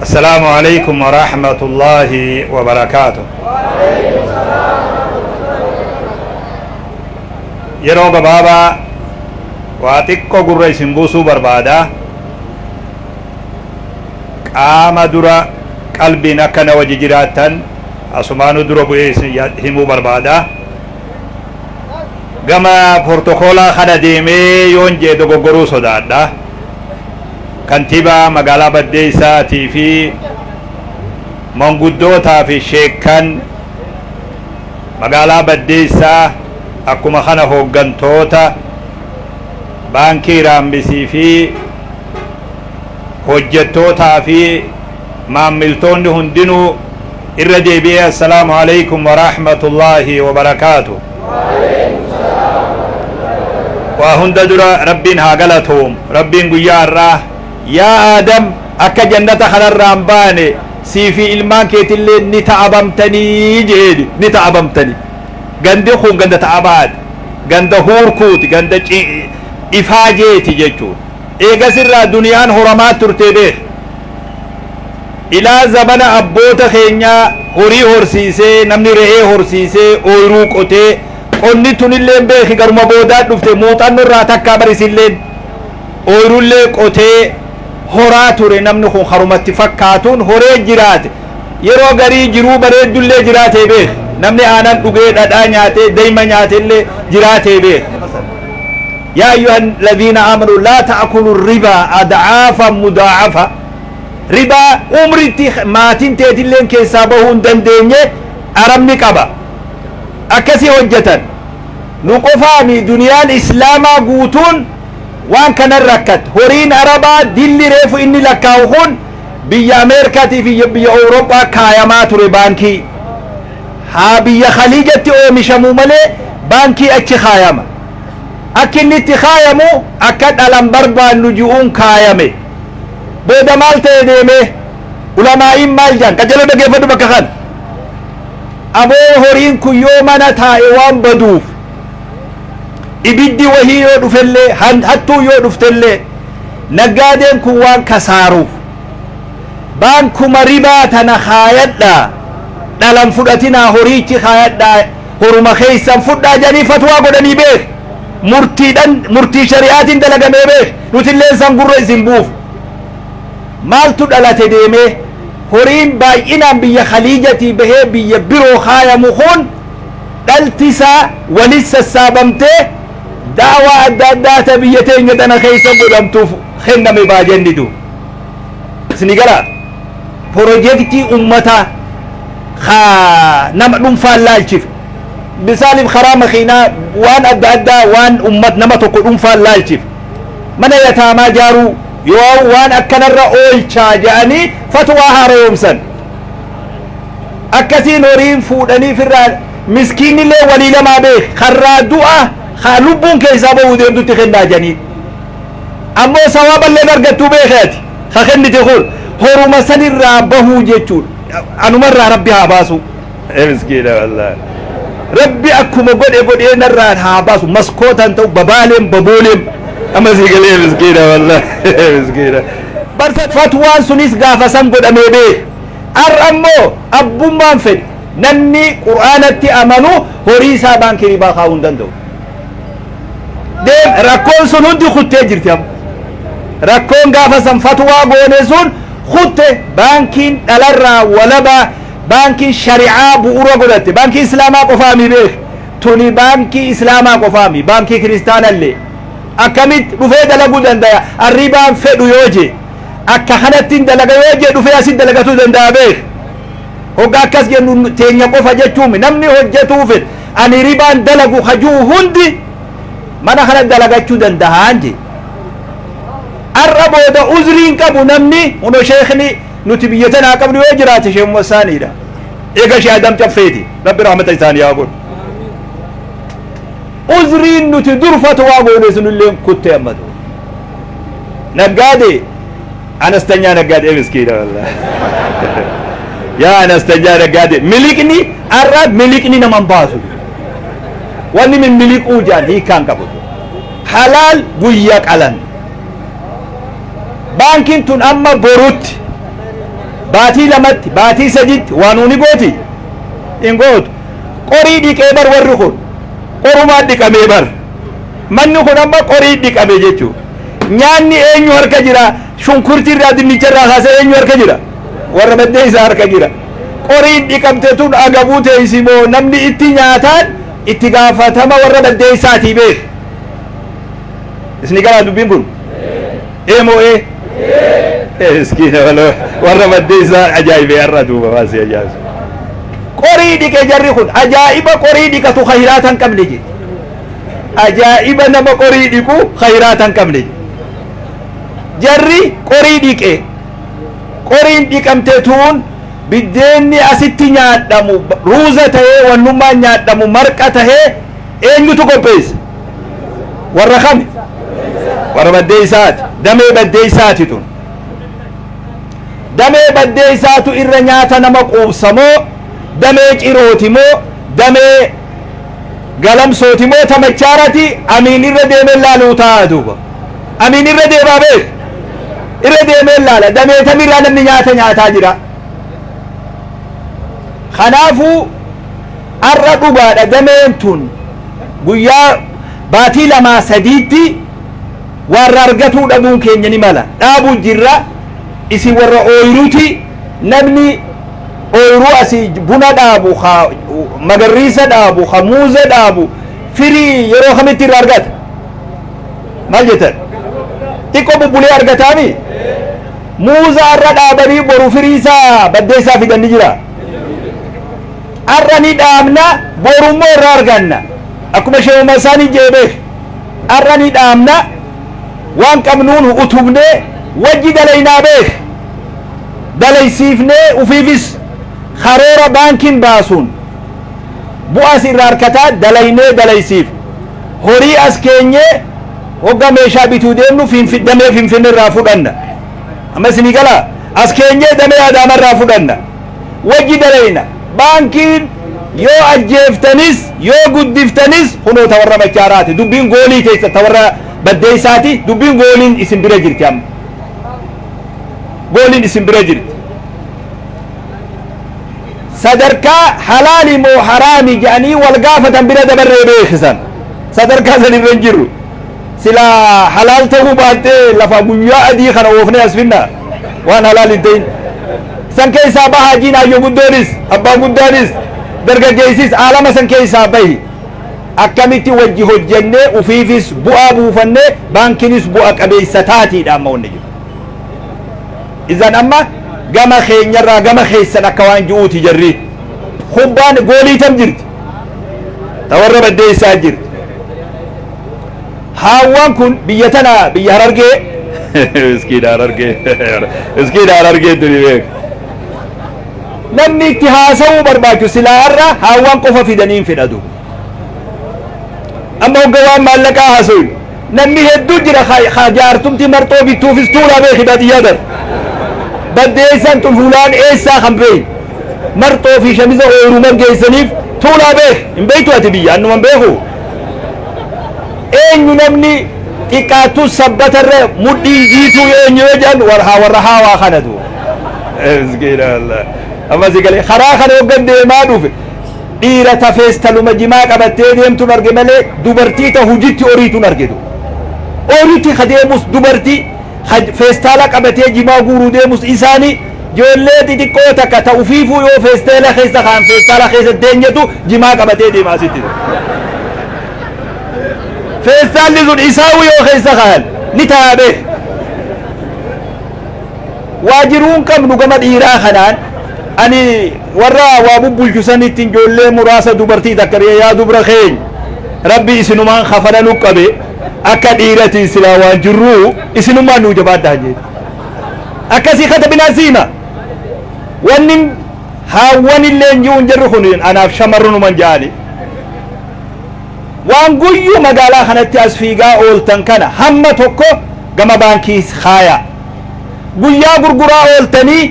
Assalaamu Aleeykum Waraahmatullaahi Wabarakaatuh. Yeroo gabaabaa waa xiqqo gurra isin buusuu barbaada. Qaama dura qalbiin akka na wajji jiraattan asumaanuu dura bu'ee isin ya- himuu barbaada. Gama portokoolaa kana deemee yoon jee dogoggoruu sodaadha. Kantiibaa Magaalaa Baddeessaa tii fi Manguddootaa fi Sheekkan Magaalaa Baddeessaa akkuma kana Hooggantoota Baankii Raammisii fi Hojjettootaa fi Maammiltoonni hundinuu Irra deebi'ee Assalaamu Aleykum Warahmatullaahi Wabarakaatu. Waa hunda dura Rabbiin haa galatoomu. Rabbiin guyyaa har'aa Yaa Aadam akka jannata kanarraa hin baane sii fi ilmaan keetilleen ni ta'abamtanii je'eeni. Ni ta'abamtani. Gandi kun ganda ta'abaati. Ganda huurkuuti. Ganda ifaajeeti jechuudha. Eegasirraa duniyaan horamaa turte beekhi. Ilaa zamana abboota keenyaa horii horsiisee, namni re'ee horsiisee, ooyruu qotee, qonni tunilleen beeki garuma boodaa dhufte muuxanno irraa takkaa bar isilleen ooyrullee qotee horaa ture namni kun karumatti fakkaatuun horee jiraate. Yeroo garii jiruu bareeddullee jiraatee beeka. Namni aanan dhugee, dhadhaa nyaatee, dayma nyaatellee jiraatee beeka. Yaa ayyuhan ladhiina aamanu laa ta'akulu ribaa ad'aafan mudaa'afa. Ribaa umritti maatin teetilleen keessaa bahuu hin dandeenye arabni qaba. Akkasi hojjatan. Nu qofaami duniyaan islaamaa guutuun waan kanan rakkatte. Horiin arabaa dilli reefu inni lakkaa'u kun biyya Ameerkaatii fi biyya Awuroophaa kaayamaa ture baankii haa biyya Khaliijatti oomishamu malee baankii achi kaayama. Akki inni itti kaayamu akka dhalan barbaannu ji'uun kaayame. Booda maal ta'e deemee? Ulamaa'iin maal jaan? Qajeeloo dhageeffadhu bakka kana. Aboo horiin kun yoo mana taa'e waan baduuf. ibiddi wahii yoo dhufellee han- hattuun yoo dhuftellee naggaadeen kun waan kasaaruuf baankuma ribaa tana kaayadhaa dhalan fudhatinaa horiichi kaayadhaa horuma keessan fudhaa jedhanii fatwaa godhanii beek murtiidhan murtii shari'aatiin dalagamee beek nutilleen san gurra isin buuf maaltu dhalate deemee horiin baay'inaan biyya khaliijatii bahee biyya biroo kaayamu kun dhalti isaa walit sassaabamtee da'awaa adda addaa ta biyya teenya tana keessa godhamtuuf kenname baajanni du isni galaa pirojektii ummataa ka nama dhunfaan laalchif misaalif karaa makiinaa waan adda addaa waan ummat nama tokko dhunfaan laalchif mana yataamaa jaaruu yoo waan akkanarra oolchaa ja'anii fatwaa haarayomsan akkasiin horiin fuudhanii firraa miskiinillee walii lamaa beek karraa du'a haa lubbuun keessaa ba'uu deemtutti kennaa janiin ammoo sawaaballeen argattuu beeke ati ha kennite kun horuma sanirraa bahuu jechuun anumarraa rabbi haa baasu miskiina wallaahi rabbi akkuma godhe godhee narraan haa baasu maskootaan ta'u babaaleen babooleen amma sii galee miskiina wallaahi miskiina Bar fatwaan sunis gaafa san godhamee beeka. Ar'a immoo abbummaan fedhe. Namni Qur'aanatti amanu horii isaa baankii ribaa kaa'uu hin danda'u. Deem rakkoon sun hundi kuttee jirti amma. Rakkoon gaafa san fatwaa goone sun kutte baankiin dhalarraa walabaa baankiin shari'aa bu'uura godhatte baankii islaamaa qofaa mi beeka. Tuni baankii islaamaa qofaa mi baankii kiristaanallee akkamitti dhufee dalaguu dandaya arribaan fedhu yoo jee akka kanattin dalaga yoo jee dhufee asit dalagatuu dandaya beek hogga akkas jennu teenya qofa jechuu mi namni hojjatuu fed ani ribaan dalagu kajuu hundi mana kana dalagachuu dandahaan jee ar'a booda uzriin qabu namni huno sheekni nuti biyya tanaa qabnu yoo jiraate sheekh Muhammad Saaniidha eega shee Adam Caffeeti Rabbi rahmata isaanii haa godhu. Uzriin nuti dur fatwaa goone sunillee kutte amma dur. Naggaadee anastanyaa naggaadee miskiina wallahi. Yaa anastanyaa naggaadee miliqni har'a miliqni nama hin baasu. Wanni min miliquu jaan hiikaan qabu. Halaal guyya qalan. Baankiin tun amma borutti. baatii lamatti baatii sadiitti waa nuu ni gooti hin gootu qorii dhiqee bar warri kun qorumaa dhiqamee bar manni kun amma qorii dhiqame jechuu nyaanni eenyu harka jira shunkurtii irraa dinnicha irraa kaasee eenyu harka jira warra baddee isaa harka jira qoriin dhiqamte tun agabuu teessi moo namni itti nyaataan itti gaafatama warra baddee isaatii beeku isni galaa dubbiin kun Ee moo ee? Ee miskiina waloo warra maddee isaa ajaa'ibee har'a duuba waan si ajaa'isu. Qorii dhiqe jarri kun ajaa'iba qorii dhiqatu hayiraata hin qabne jedhe. Ajaa'iba nama qorii dhiqu hayiraata hin qabne jedhe. Jarri qorii dhiqe qoriin dhiqamte tuun biddeenni asitti nyaadhamu ruuza ta'ee wannummaan nyaadhamu marqa ta'ee Eenyutu qopheesse? Warra kami? Warra baddeessaati. Damee baddeessaati tun. Damee baddeessaatu irra nyaata nama quubsa moo damee cirooti moo damee galamsooti moo ta machaarati amiin irra deemee laaluu taa'aa duuba. Amiin irra deemaa beeku. Irra deemee laala. Damee tamirraa namni nyaata nyaataa jira. Kanaafuu Har'a dhugaadha dameen tun guyyaa baatii lamaa sadiitti waarra argatuu dhabuun keenya ni mala dhaabu jirra isin warra ooyiruti namni ooyiruu asi buna dhaabu ka magarriisa dhaabu ka muuza dhaabu firii yeroo kamitti irra argata maal jettan xiqqoo bubbulee argataami muuza har'a dhaabanii boru firii isaa baddeessaa fidan ni jira Har'a ni dhaabna, boru immoo irraa arganna. Akkuma Sheikh Muhammad Saaniin jedhe beeki. Har'a ni dhaabna, waan qabnuun utubnee wajji dalaynaa beeki. Dalaysiifnee ufiifis karoora baankiin baasuun bu'aas irraa arkataa dalaynee dalaysiif horii as keenyee hogga meeshaa bituu deemnu damee Finfinnee irraa fudhanna. Amma isinii galaa? As keenyee damee Adaama irraa fudhanna. wajji dalayna. Baankiin yoo ajjeeftanis yoo guddiftanis kunoo ta warra machaaraati. Dubbiin goolii teessan ta warra baddeessaati. Dubbiin gooliin isin bira jirti amma. Gooliin isin bira jirti. Sadarkaa halaali moo haraami jedhanii wal gaafatan bira dabarree beeksisan. Sadarkaa san irra hin jirru. Silaa halaal ta'uu baattee lafaa guyyaa adii kana oofnee as finna waan halaal hin ta'in. San keessaa baha hajiin hayyoo guddoonis abbaa guddaanis dargaggeessis aalama san keessaa bahi. Akkamitti wajji hojjennee ufiifis bu'aa buufannee baankinis bu'a qabeessa taatiidha amma wanni jiru. Izan amma gama keenyarraa gama keessan akka waan ji'uuti jarri. Kubbaan goolii tam jirti? Ta warra baddeessaa jirti. Haawwaan kun biyya tana biyya harargee iskiidha harargee iskiidha harargee tuni beek. Namni itti haasa'uu barbaachu silaa har'a haawwaan qofa fidaniin fedhatu. Amma hogga waan maallaqaa haasa'u namni hedduu jira haa jaartumti marxoo bittuufis tuulaa beeki baadiyyaa dara. Baddeessaan tun hulaan eessaa kan beeyi. Marxoo fi shamiza ooyiruu margeessaniif tuulaa beeki hin beektu ati biyya annuma beeku. eenyu namni xiqqaattus sabbata irra mudhiin jiituu eenyu yoo jedhan warhaa warra haawaa kanatu amma si galee karaa kana hoggan deemaa dhufe dhiira tafees taluma jimaa qabattee deemtuun arge malee dubartii ta hujitti oriituun argitu oriitti ka deemus dubartii Haj feestaala qabatee jimaa guuruu deemus isaani joollee xixiqqoo takka ta ufiifuu yoo feesteela keessa kaan feestaala keessa teenyetu jimaa qabatee deema asitti. Feestaalli sun isaawu yoo keessa kaan ni tayaa beeka. Waa jiruun qabnu gama dhiiraa kanaan ani warra waa bubbulchu sanittiin joollee muraasa dubartii takka yaa dubra keenya rabbi isinumaan kafana nu qabe. akka dhiiratii silaa waan jirruu isinummaan nuu jabaadhaan jee akkasii katabinaan siima wannin haawwan illeen ji'uun jirru kun anaaf shamarrunuman jaali waan guyyuu magaalaa kanatti as fiigaa ooltan kana hamma tokko gama baankii kaayaa guyyaa gurguraa ooltanii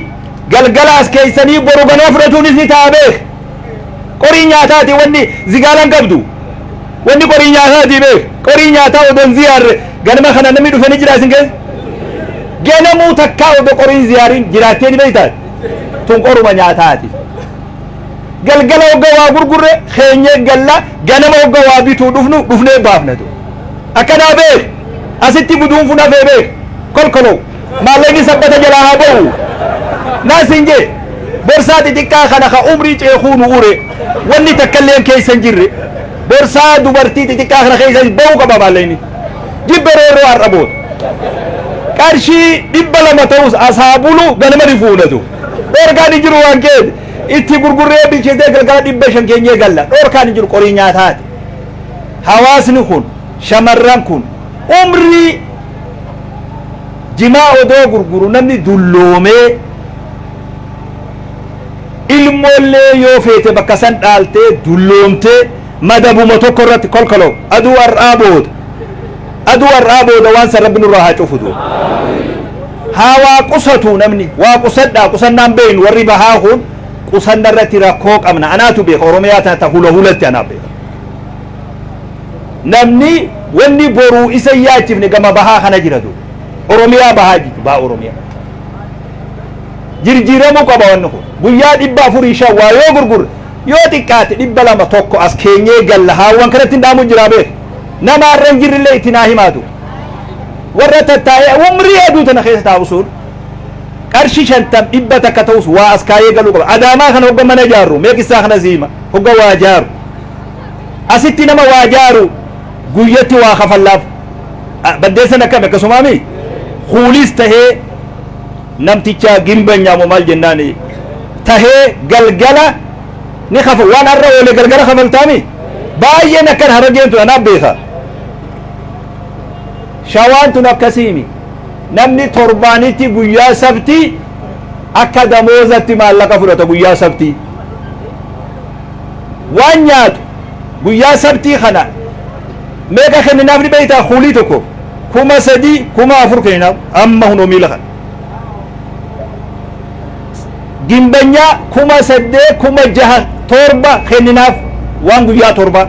galgala as keessanii boru ganaa fudhatuunis ni ta'a beek Qorii nyaataati wanni zigaalaan qabdu. Wanni qorii nyaataati beek. Qorii nyaataa odoo hin ziyaarre ganama kana namni dhufe ni jira isin keessa? Ganamuu takkaa odoo qorii hin ziyaariin jiraattee ni beektaati? Tun qoruma nyaataati. Galgala hogga waa gurgurre keenyee galla ganama hogga waa bituu dhufnu dhufnee baafna tun. Akkanaa beek. Asitti guduunfuun hafee beek. Kolkolow. Maallaqni sabbata jalaa haa ba'u naa siin jee borsaa xixiqqaa kana ka umrii ceekuu nu ure wanni takkalleen keessa hin jirre borsaa dubartii xixiqqaa kana keessa ba'uu qaba maallaqni jibbe roorroo har'a booda. qarshii dhibba lama ta'us asaa bulu ganama ni fuudhatu. Dhorkaan hin jiru waan keeti. Itti gurgurree bilcheessee galgala dhibba shan keenyee galla. Dhorkaan hin jiru qorii nyaataati. Hawaasni kun shamarran kun umrii jimaa odoo gurguru namni dulloomee ilmoollee yoo feete bakka san dhaaltee dulloomtee madabuma tokko irratti kolkoloo aduu har'aa booda aduu har'aa booda waan san rabbi nurraa haa cufu duuba haa waa qusatu namni waa qusadhaa qusannaan beeynu warri bahaa kun qusanna irratti rakkoo qabna anaatu beeka oromiyaa tana ta hula hulatti anaa beeka Namni wanni boruu isa hin yaachifne gama bahaa kana jira du. Oromiyaa bahaa jechu baha Oromiyaa. Jirjiiramuu qaba wanni kun. Guyyaa dhibba afurii shan waa yoo gurgurre yoo xiqqaate dhibba lama tokko as keenyee galla haawwan kanatti hin dhaamu jiraa beeku. Nama har'a hin jirrillee itti naa himaa du. Warra tattaa'ee umrii aduu tana keessa taa'u sun qarshi shantam dhibba takka ta'us waa as kaayee galuu qaba. Adaamaa kana hogga mana ijaarru mee qissaa kana siima hogga waa ijaaru. Asitti nama waa jaaru guyyatti waa kafallaaf. Baddeessan akkami akkasumaami? Kuulis tahee namtichaa gimbanyaa moo maal jennaan tahee galgala ni kafa waan har'a oole galgala kafaltaami? Baay'een akkan harageen tun anaaf beeka. Shawaan tun akkasiimi. Namni torbaanitti guyyaa sabtii akka damoozatti maallaqa fudhata guyyaa sabtii. waan nyaatu guyyaa sabtii kana meeqa kenninaaf ni beektaa kuulii tokko kuma sadii kuma afur kenninaaf amma hunoo miila kana gimbanyaa kuma saddee kuma jaha torba kenninaaf waan guyyaa torba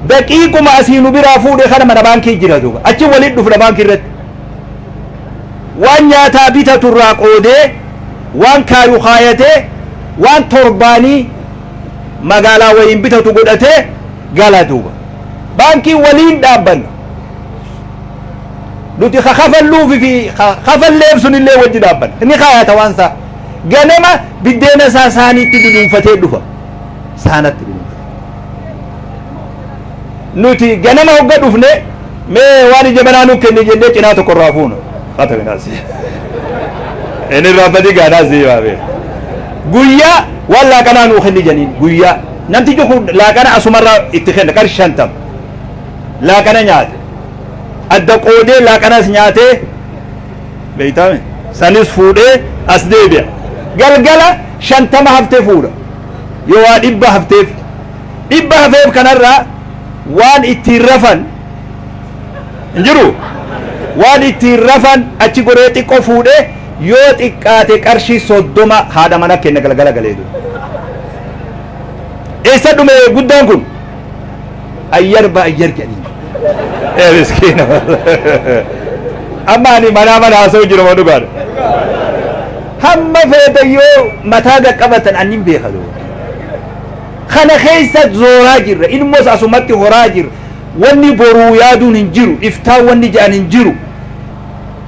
daqiiquma asii nu biraa fuudhe kana mana baankii jira duuba achi waliin dhufna baankii irratti waan nyaataa bitatu irraa qoodee waan kaayu kaayatee waan torbaanii magaalaa wayiin bitatu godhatee gala duuba baankii waliin dhaabbanna nuti ka kafalluufi fi ka kafalleef sunillee wajji dhaabbanna ni kaayata waan isaa ganama biddeena isaa saaniitti duduunfatee dhufa saanatti dhuunfate. Nuti ganama hogga dhufne mee waan ija manaa nu kenni jennee cinaa tokko irraa fuuna. Haa ta'u inaas. Inni irraa badii gaanaas ni baabee. Guyyaa waan laaqanaa nuu kenni janiin guyyaa namtichi kun laaqana asumarraa itti kenna qarshii shantam. Laaqana nyaate. Adda qoodee laaqanas nyaatee beeytaame sanis fuudhee as deebi'a galgala shantama haftee fuudha yoo waa dhibba hafteef dhibba hafeef kanarraa waan ittiin rafan hin jiru waan ittiin rafan achi goree xiqqoo fuudhee yoo xiqqaate qarshii soddoma haadha mana kenna galgala galee eessa dhume guddaan kun ayyar ba ayyar jedhanii ee miskiina amma ani manaa mana haasa'u jiru ma dhugaadha hamma feeta yoo mataa qaqqabatan ani hin beeka doo kana keessa zooraa jirra ilmoos asumatti horaa jirra wanni boruu yaaduun hin jiru iftaan wanni ja'an hin jiru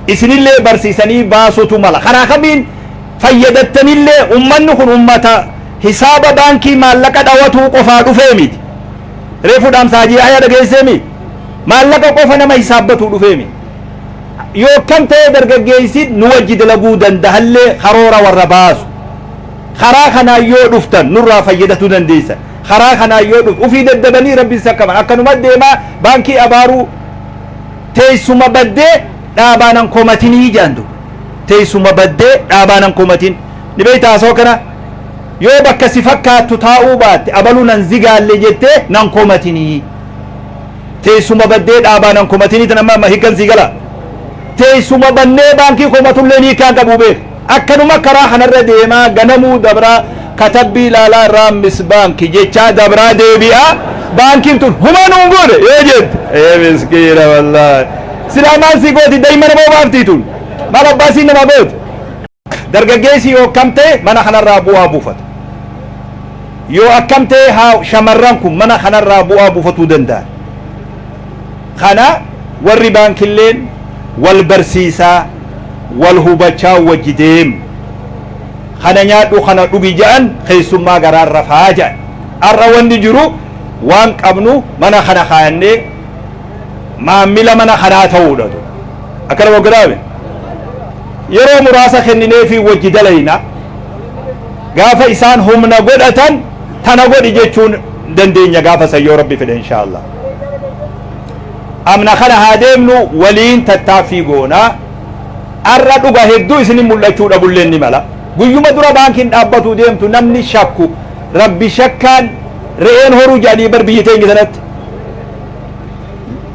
isinillee barsiisanii baasutu mala karaa kamiin fayyadamtanillee ummanni kun ummata Hisaaba baankii maallaqa dhawatuu qofaa dhufee miti. Reefu dhaamsa Haji Yahyaa dhageessee mii? Maallaqa qofa nama hisaabbatuu dhufee mii? Yoo akkam ta'ee dargaggeessiin nu wajji dalaguu dandahallee karoora warra baasu. Karaa kanaan yoo dhuftan nurraa fayyadatuu dandeessan. Karaa kanaan yoo dhuf ufii daddabanii rabbiin sakkaman. Akkanuma deemaa baankii abaaruu teessuma baddee dhaabaanan komatinii jaandu. Teessuma baddee dhaabaanan komatin. Ni beektaa haasoo kana? Yoo bakka si fakkaattu taa'uu baatte abalu nan zigaalle jettee nan komatinii. Teessuma baddee dhaabaa nan komatinii tan amma hikkan sii gala. Teessuma bannee baankii komatulleen hiikkaan qabuu beeka. Akkanuma karaa kanarra deemaa ganamuu dabraa katabbii ilaalaa raammis baanki jechaa dabraa deebi'aa baankiin tun humaa nuun goone yoo jette. Ee miskiina wallaahi. Silaa maal sii gooti daa'imman moo baaftii tun? Maal abbaa siin namaa gooti? Dargaggeessi yoo akkam ta'e mana kanarraa bu'aa buufata? Yoo akkam ta'e haa shamarran kun mana kanarraa bu'aa buufatuu danda'an? Kana warri baankilleen wal barsiisaa, wal hubachaa wajji deemu. Kana nyaadhu kana dhugi ja'an keessummaa garaan rafaa ja'an. Har'a wanni jiru waan qabnu mana kana kaayannee maammila mana kanaa ta'uudha. Akkana goggodaame. Yeroo muraasa kennineefii wajji dalayna. Gaafa isaan humna godhatan tana godhi jechuun dandeenya gaafa san yoo Rabbi fedhe inshaa Allah. Amna kana haa deemnu waliin tattaaffii goona. Arra dhuga hedduu isinin mul'achuu dhabulleen ni mala. Guyyuma dura baankiin dhaabbatuu deemtu namni shakku rabbi shakkaan re'een horuu jedhanii bar biyyi teenya sanatti.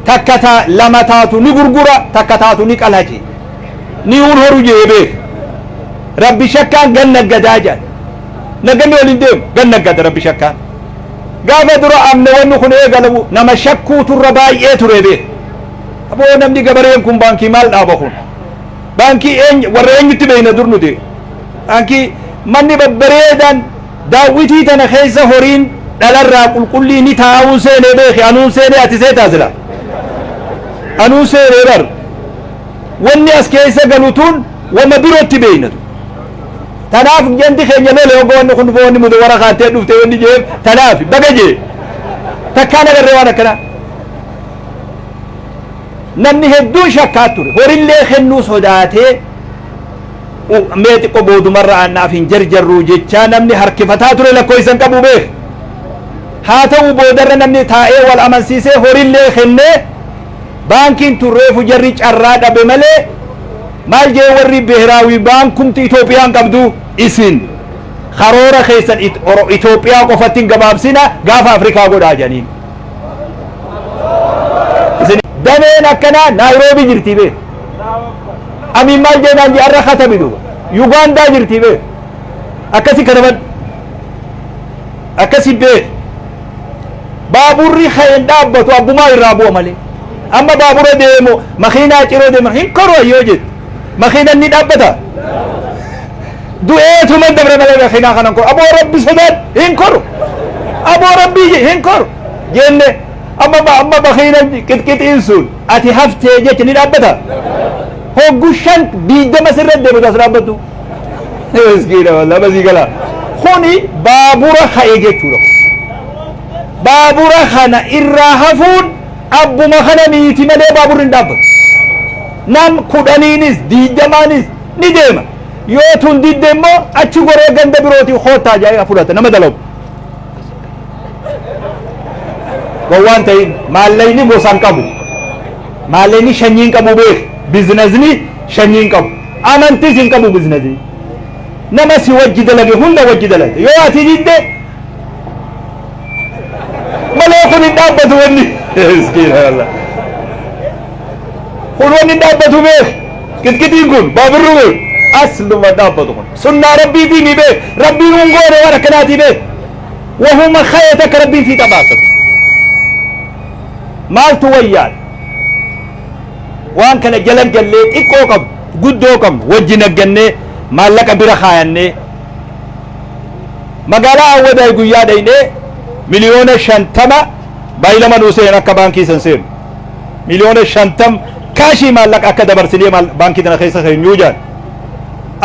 Takka ta lama taatu ni gurgura takka taatu ni qalaci. ni hun horu jee beek rabbi shakkaan gan naggadaa jedhan nagganni waliin deemu gan naggada rabbi shakkaan gaafa dura amne wanni kun eegalamu nama shakkuu turra baay'ee ture beek aboo namni gabareen kun baankii maal dhaaba kun baankii eeny- warra eenyutti beeyna dur nuti baankii manni babbareedaan daawwitii tana keessa horiin dhalarraa qulqullii ni taa'uu seenee beeki anuun seenee ati seetaa sila anuun seenee bar Wonni as keessa galu tun woma birotti beeyna tun. Tanaaf janti keenya lole hogga wanni kun dhufe wanni mudawara kaattee dhufte wanni jeef tanaafi baga jee. Takkaan agarree waan akkanaa. Namni hedduun shakkaa ture. Horillee kennuu sodaatee u- mee xiqqoo boodumarra aannaaf hin jarjarruu jechaa namni harkifataa ture lakkoofsan qabu beek. Haa ta'u boodarra namni taa'ee wal amansiisee horillee kennee Baankiin tun reefu jarri carraa dhabe malee maal jee warri Bihiraawi baankumti Itoophiyaan qabdu isin karoora keessan Itoophiyaa qofatti hin gabaabsina gaafa Afrikaa godhaa jedhaniin. Dameen akkanaa Naayiroobii jirti bee. Amiin maal jee naan jee arra katabi duuba. Yugaandaa jirti bee. Akkasi kataban. Akkasi bee. baaburri ka'e hin dhaabbatu abbumaa irraa bu'a malee amma baabura deemu makiinaa ciroo deema hin koru yoo jettu makiinan ni dhaabbata du'eetuma dabre malee makiinaa kanan koru aboo rabbi sodaat hin koru aboo rabbi hin koru jenne amma amma makiina qixqixiin sun ati haftee jecha ni dhaabbata hoggu shan diidama sirra deemu taas dhaabbatu Miskiina wallah basii gala. Kuni baabura ka'e jechuudha. Baabura kana irraa hafuun abbuma kana miiti malee baaburri hin dhaabbatu. Nam kudhaniinis diidamaanis ni deema. Yoo tun didde immoo achi goree ganda birootii koottaa jaa'ee fudhata nama dalagu. Gowwaan ta'in maallaqni gosa hin qabu. Maallaqni shanyiin qabu beeku. Biizinasni shanyiin qabu. Amantis hin qabu biznasi. Nama si wajji dalage hunda wajji dalage. Yoo ati didde malee kun hin dhaabbatu wanni. Subhanallah. Kun wanni hin dhaabbatu beek. Qixqixiin kun baabirri kun asluma dhaabbatu kun. Sunnaa rabbiitii ni beek. Rabbiin hin goone waan akkanaatii beek. Wahuma ka'ee takka rabbiin sii taphaasatu. Maaltu wayyaan? Waan kana jala gallee xiqqoo qabnu, guddoo qabnu wajjin aggannee maallaqa bira kaayannee magaalaa Awwadaay guyyaa dhaynee miliyoona shantama baay'ilama nuu seenan akka baankii san seenu. Miliyoona shantam kaashii maallaqa akka dabarsinee baankii tana keessa keenyuu jaan.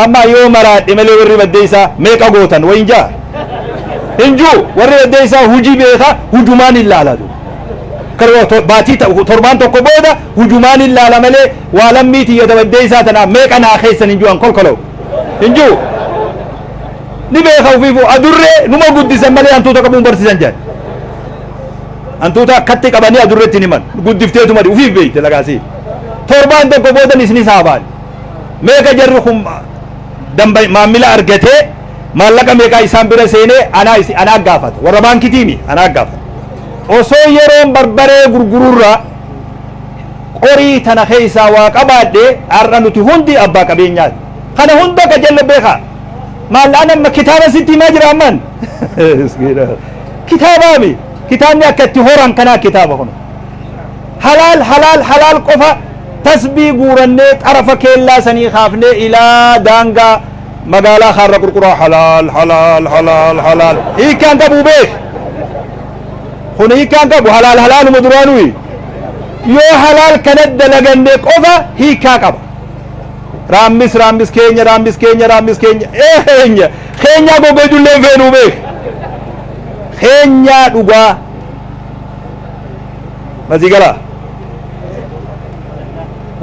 Amma yoo maraadhe malee warri baddeessaa meeqa gootan wayin jaa. Hin juu warri baddeessaa hujii beeka hujumaan hin laalatu. baatii torbaan tokko booda hujumaan hin laala malee waa lammii tiyya dabaddee isaa tanaaf meeqa naa keessan hin jiru an kolkolawu hin jiru ni beeka ofiifuu adurree numa guddisan malee hantuuta qabuun barsiisan jedhan hantuuta akkatti qabanii adurreetti hin himan guddifteetuma ofiif beekte lagaasii torbaan tokko boodan isinis haabaan meeqa jarri kun damba maamila argatee maallaqa meeqaa isaan bira seenee anaa isi anaa gaafata warra baankitiimi anaa gaafata Osoo yeroon barbaree gurgururra qorii tana keessaa waa qabaadhe har'a nuti hundi abbaa qabeenyaati. Kana hunda ka jalla beeka. Maal an amma kitaaba sitti himaa jira amman? Kitaabaami. Kitaabni akka itti horan kanaa kitaaba kun. Halaal halaal halaal qofa tasbii guurannee xarafa keellaa sanii kaafnee ilaa daangaa magaalaa kaarra qurquraa halaal halaal halaal halaal hiikkaan qabu beek kun hiikkaan qabu halaal halaaluma duraanuu yoo halaal kana dalaganne qofa hiikkaa qaba raammis raammis keenya raammis keenya raammis keenya eenya keenyaa goga ijoollee feenuu beek keenyaa dhugaa masigala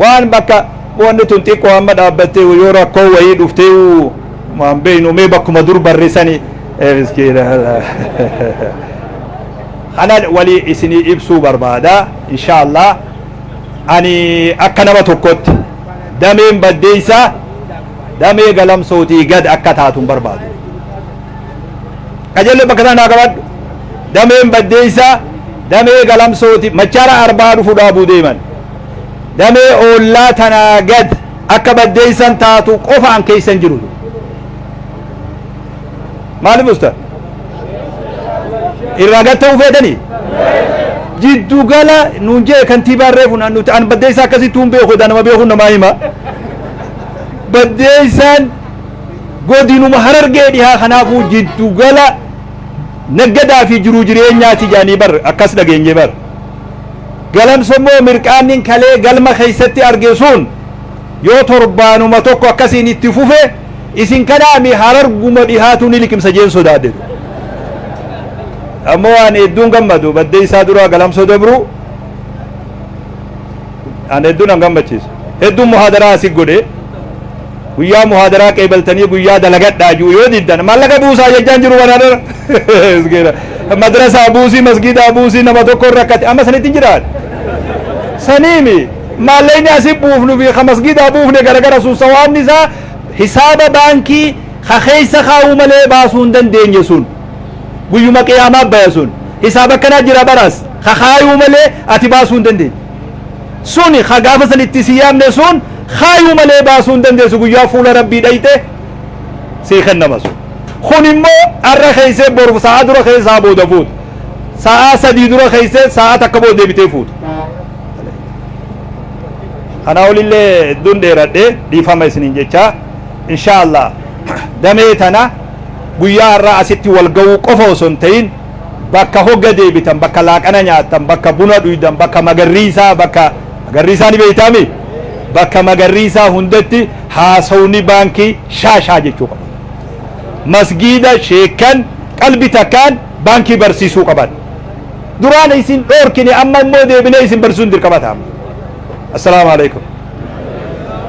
waan bakka wanni tun xiqqoo amma dhaabbattee yoo rakkoo wayii dhuftee waan beeynu mee bakkuma dur barreessanii miskiina kana walii isinii ibsuu barbaada insha allah ani akka nama tokkotti dameen baddeeysa damee galamsootii gad akka taatun barbaadu qajeellee bakka isaan haa qabaadhu dameen baddeessaa damee galamsooti machaara arbaa dhufu dhaabuu deeman damee oollaa tanaa gad akka baddeessan taatu qofaan keessan jiru maaliif usta irraa gad ta'uu feetanii jiddu gala nuun jee kantiibaan reefu nuti an baddeessaa akkasittuu hin beeku nama beekuun namaa hima baddeessaan godinuma harargee dhihaa kanaafuu jiddu gala naggadaa fi jiruu jireenyaati jedhanii bar akkas dhageenye bar galamsa immoo mirqaannin kalee galma keessatti arge sun yoo torbaanuma tokko akkasiin itti fufe isin kanaami hararguma dhihaatu ni liqimsa jeen sodaadhe ammoo waan hedduun gammadu baddee isaa duraa galamsoo dabruu an hedduun an gammachiisu hedduun muhaadaraa asii godhe Guyyaa muhaadaraa qeebaltanii guyyaa dalagadhaa ju'u yoo diddan maallaqa buusaa jechaan jiru wan hadara miskiina madrasaa buusii masgiidaa buusii nama tokko rakkate amma sanitti hin jiraadha saniimi maallaqni asi buufnu fi ka masgiidaa buufne garagara sun sawaabni isaa hisaaba baankii ka keessa kaa'uu malee baasuu hin dandeenye sun guyyuma qiyaamaa baya sun hisaaba akkanaa jira baraas ka kaayuu malee ati baasuu hin dandeenye Suni ka gaafa san itti si yaamne sun kaayuu malee baasuu hin dandeessu guyyaa fuula rabbii dhayxe sii kennama sun. Kun immoo arra keeysee boru sa'aa dura keessa sa'aa booda fuuta. Sa'aa sadii dura keeysee sa'aa takka booda deebitee fuuta. Kanaa olillee hedduun dheeradhe dhiifama isiniin jechaa inshaa Allah damee tana guyyaa har'aa asitti wal ga'uu qofa osoo hin ta'in bakka hogga deebitan bakka laaqana nyaattan bakka buna dhuydan bakka magarriisaa bakka magarriisaa ni beeytaami bakka magarriisaa hundatti haasawni baankii shaa shaa jechuu qabu masgiida sheekkan qalbi takkaan baankii barsiisuu qaban duraan isin dhoorkine amma immoo deebinee isin barsiisuun dirqama ta'a assalaamu alaikum